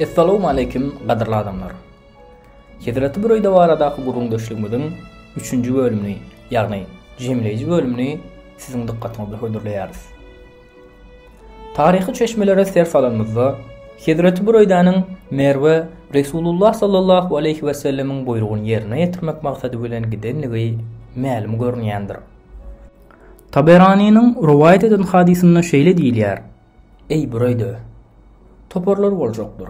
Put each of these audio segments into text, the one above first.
Essalawmaleýkim gadyrly adamlar! Hezreti Büreýde baradaky gürrüňdeşligimiziň üçünji bölümini, ýagny jemleýji bölümini siziň dykgatyňyza hödürleýäris. Taryhy çeşmelere ser salanymyzda, Hezreti Büreýdäniň Merwe Resulullah sallallahu aleýhi wesellemiň buýrugyny ýerine ýetirmek maksady bilen gidendigi mälim görünýändir. Taberanynyň rowaýat eden hadysynda şeýle diýilýär, Eý, Bureyde, toparlar boljakdyr.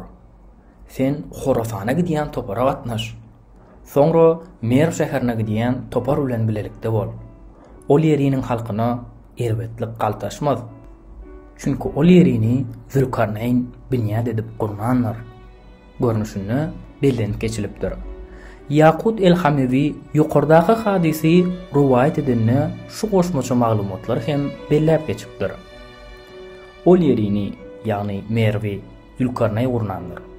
Sen Horasana gidýän topara gatnaş. Soňra Merw şäherine gidýän topar bilen bilelikde bol. Ol ýeriniň halkyna erbetlik galtaşmaz. Çünki ol ýerini Zülkarneýn binýat edip gurnandyr. görnüşinde bellenip geçilipdir. Ýakut el-Hamewi ýokardaky hadysy rowaýat edende şu goşmaça maglumatlary hem belläp geçipdir. Ol ýerini, ýagny Merwi, Zülkarnaý gurnandyr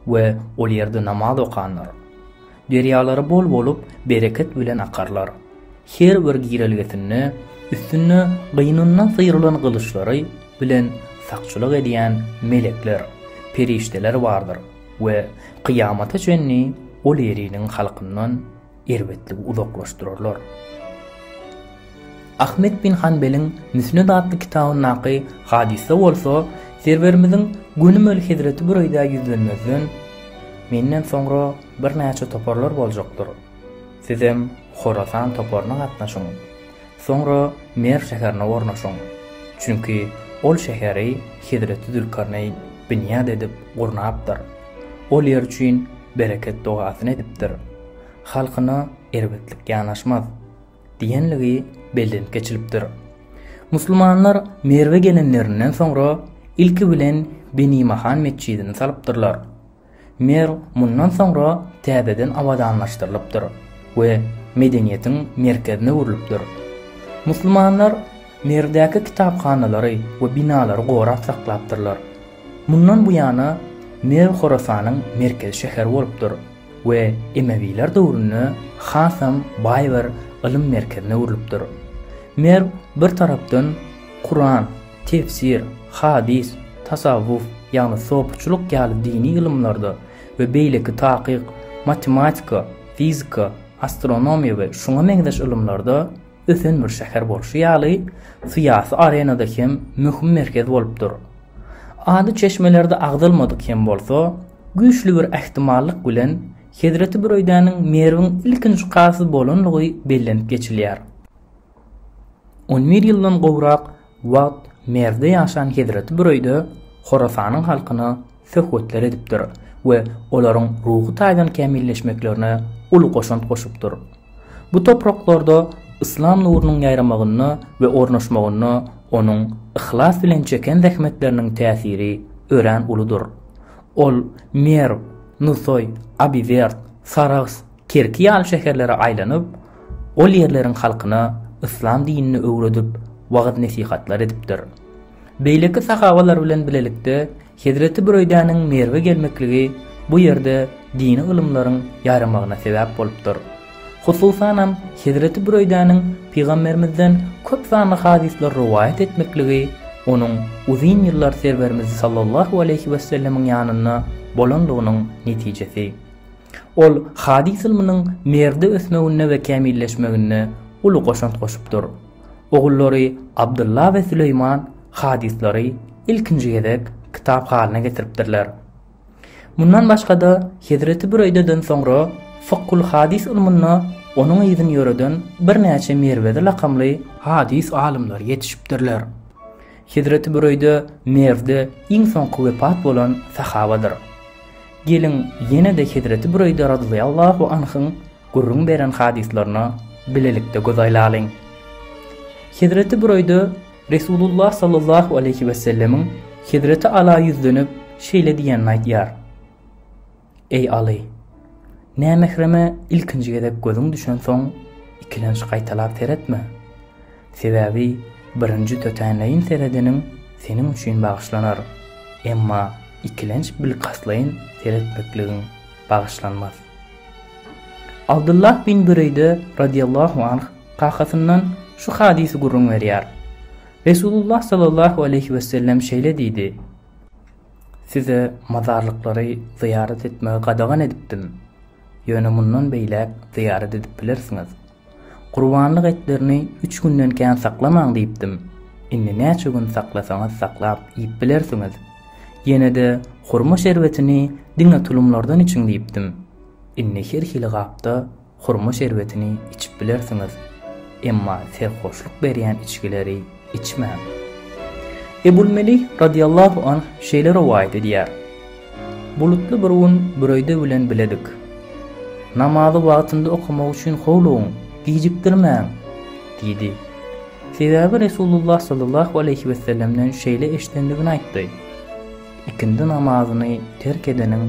we ol ýerde namaz okandyr. Derýalary bol bolup, bereket bilen akarlar. Her bir girelgesinde üstünde gynyndan syrylan gylyçlary bilen sakçylyk edýän melekler, perişdeler bardyr we kyýamata çenli ol ýeriniň halkyndan erbetligi uzaklaşdyrarlar. Ahmet bin Hanbeliň Müsned atly kitabyndaky hadysa bolsa Serwerimiziň gönümel hezreti Büreýdä ýüzlenmezden, Menden soňra birnäçe toparlar boljakdyr. Sizem Horasan toparyna gatnaşyň. Soňra Merw şäherine ornaşyň. Çünki ol şäheri hezreti Zülkarneýn binýat edip gurnapdyr. Ol ýer üçin bereket dogasyny edipdir. Halkyna erbetlik ýanaşmaz. diýenligi bellenip geçilipdir. Musulmanlar Merwe gelenlerinden soňra ilki bilen Benimahan metjidini salypdyrlar. Merw mundan soňra täzeden abadanlaşdyrylypdyr we medeniýetiň merkezine öwrülipdir. Musulmanlar Merwdäki kitaphanalary we binalary gorap saklapdyrlar. Mundan bu ýana Merw Horasanyň merkezi şäheri bolupdyr. we emewiler döwründe hasam baý bir ylym merkezine öwrülipdir. Merw bir tarapdan Kuran, tefsir, hadys, tasawwuf, ýagny sopuçylyk ýaly dini ylymlarda we beýleki takyk, matematika, fizika, astronomiýa we şuňa meňzeş ylymlarda, ösen bir şäher bolşy ýaly, syýasy arenada hem möhüm merkez bolup dur. Ady çeşmelerde agzalmadyk hem bolsa, güýçli bir ähtimallyk bilen Hezreti Büreýdäniň Merwiň ilkinji kazy bolanlygy bellenip geçilýär. On bir ýyldan gowrak Wagt Merwde ýaşan hezreti bir öýde Horasanyň halkyna söhbetler edipdir we olaryň ruhy taýdan kämilleşmeklerine uly goşant goşupdyr. Bu topraklarda yslam nurunyň ýaýramagynda we ornaşmagynda onuň yhlas bilen çeken zähmetleriniň täsiri örän uludyr. Ol Merw, Nusaý, Abiwerd, Sarahs, Kerki ýaly şäherlere aýlanyp, ol ýerleriň halkyna yslam dinini öwredip, wagyz-nesihatlar edipdir. Beýleki sahabalar bilen bilelikde hezreti Büreýdäniň Merwe gelmekligi bu ýerde dini ylymlaryň ýaýramagyna sebäp bolupdyr. Hususanam hezreti Büreýdäniň Pygamberimizden köp sanly hadyslar rowaýat etmekligi onuň uzyn ýyllar Serwerimiz sallallahu aleýhi wessellemiň ýanynda bolanlygynyň netijesi. Ol hadys ylmynyň Merwde ösmeginde we kämilleşmeginde uly goşant goşupdyr. Ogullary Abdylla we Süleýman hadyslary ilkinji gezek kitap halyna getiripdirler. Mundan başga-da, Hezreti Büreýdeden soňra Fykgul hadys ylmynda onuň yzyn ýöreden birnäçe Merwezi lakamly hadys alymlary ýetişipdirler. Hezreti Büreýde Merwde iň soňky wepat bolan sahabadyr. Geliň, ýene-de hezreti Büreýde razylýallahu anhyň gürrüň beren hadyslaryna bilelikde göz aýlalyň. Hezreti Büreýde Resulullah sallallahu aleýhi wesellemiň hezreti Ala ýüzlenip, şeýle diýenini aýdýar. Eý Aly! Nämehreme ilkinji gezek gözüň düşensoň, ikilenç gaýtalap seretme. Sebäbi birinji tötänleýin seredeniň seniň üçin bagyşlanar, emma ikilenç bilkastlaýyn seretmekligiň bagyşlanmaz. Abdullah bin Büreýde radiýallahu anh kakasyndan şu hadysy gürrüň berýär, Resulullah sallallahu aleýhi wesellem şeýle diýdi, Size mazarlyklary zyýarat etmegi gadagan edipdim. Ýöne mundan beýläk zyýarat edip bilersiňiz. Gurbanlyk etlerini üç günden kän saklamaň diýipdim. Indi näçe gün saklasaňyz saklap iýip bilersiňiz. Ýene-de hurma şerbetini diňe tulumlardan içiň diýipdim. Indi her hili gapda Hurma şerbetini içip bilersiňiz, emma serhoşlyk berýän içgileri içmäň. Ebul Melih radiyallahu anh şeýle rowaýat edýär, Bulutly bir gün Büreýde bilen biledik. Namazy wagtynda okamak üçin howlugyň, gijikdirmäň! diýdi. Sebäbi Resulullah sallallahu aleýhi wesellemden şeýle eşidendigini aýtdy, Ikindi namazyny terk edeniň,